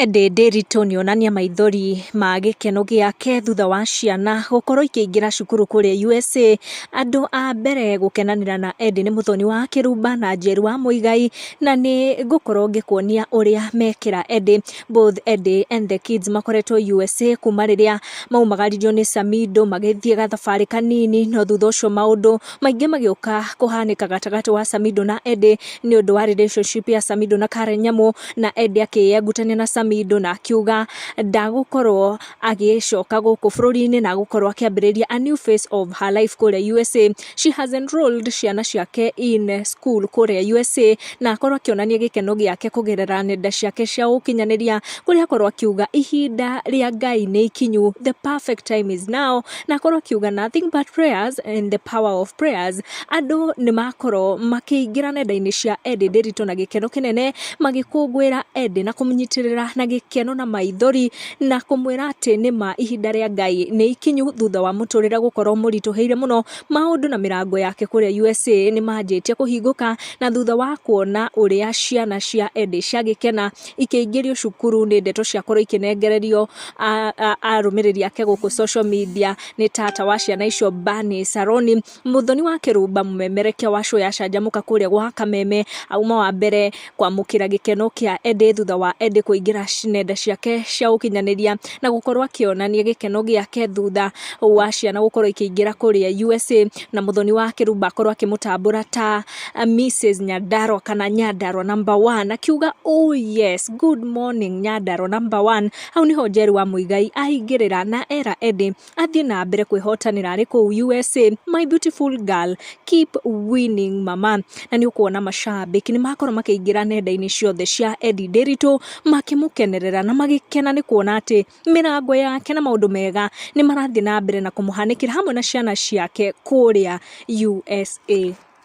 Ndĩndĩ ritũ nĩ onania maithori ma gĩkeno gĩake thutha wa ciana gũkorwo ikĩingĩra cukuru kũrĩa USA. Andũ a mbere gũkenanĩra na Eddy nĩ Mũthoni wa Kĩrumba na Njeru wa Mũigai, na nĩ ngũkorwo ngĩkuonia ũrĩa mekĩra Eddy. Both Eddy and the kids makoretwo USA kuma rĩrĩa maumagaririo nĩ Samido magĩthiĩ gathabarĩ kanini, no thutha ũcio maũndũ... maingĩ magĩũka kũhanĩka gatagatĩ wa Samido na Eddie nĩ ũndũ wa relationship ya Samido na Karen Nyamu na Eddie akĩyengutania na Samido na akiuga ndagũkorwo agĩcoka gũkũ bũrũri-inĩ na agũkorwo akĩambĩrĩria a new face of her life kũrĩa USA. She has enrolled ciana ciake in school kũrĩa USA na akorwo akĩonania gĩkeno gĩake kũgerera nenda ciake cia ũkinyanĩria kũrĩa akorwo akiuga ihinda rĩa Ngai nĩ ikinyu the perfect time is now na akorwo akiuga nothing but prayers and the power of prayers andũ nĩ makorwo makĩingĩra nenda-inĩ cia Ed Nderitu na gĩkeno kĩnene magĩkũngũĩra Ed na kũmũnyitĩrĩra na gĩkeno na maithori na kũmwĩra atĩ nĩ ma ihinda rĩa Ngai nĩ ikinyu thutha wa mũtũrĩre gũkorwo mũritũhĩire mũno maũndũ na mĩrango yake kũrĩa USA nĩ manjĩtie kũhingũka na thutha wa kuona ũrĩa ciana cia Ed ciagĩkena ikĩingĩrio cukuru nĩ ndeto ciakorwo ikĩnengererio arũmĩrĩri ake gũkũ social media nĩ tata wa ciana icio Bani Saroni mũthoni wa kĩrumba mũmemerekia wa show ya canjamũka kũrĩa gwa kameme auma wa mbere kwamũkĩra gĩkeno kĩa Ende thutha wa Ende kũingĩra nenda ciake cia ũkinyanĩria na gũkorwo akĩonania gĩkeno gĩake thutha wa ciana gũkorwo ikĩingĩra kũrĩa USA na mũthoni wa kĩrumba akorwo akĩmũtambũra ta a Mrs Nyandarwa kana Nyandarwa number one akiuga oh yes good morning Nyandarwa number one hau niho Njeri wa Muigai ahingĩrĩra na era Eddie athiĩ na mbere kwĩhotanĩra arĩ kũu USA my beautiful girl keep winning mama na nĩ ũkuona macambĩki nĩ makorwo makĩingĩra nenda-inĩ ciothe cia Eddie Nderitu makĩmũkenerera na magĩkena nĩ kuona atĩ mĩrango yake na maũndũ mega nĩ marathiĩ na mbere na kũmũhanĩkĩra hamwe na ciana ciake kũrĩa USA.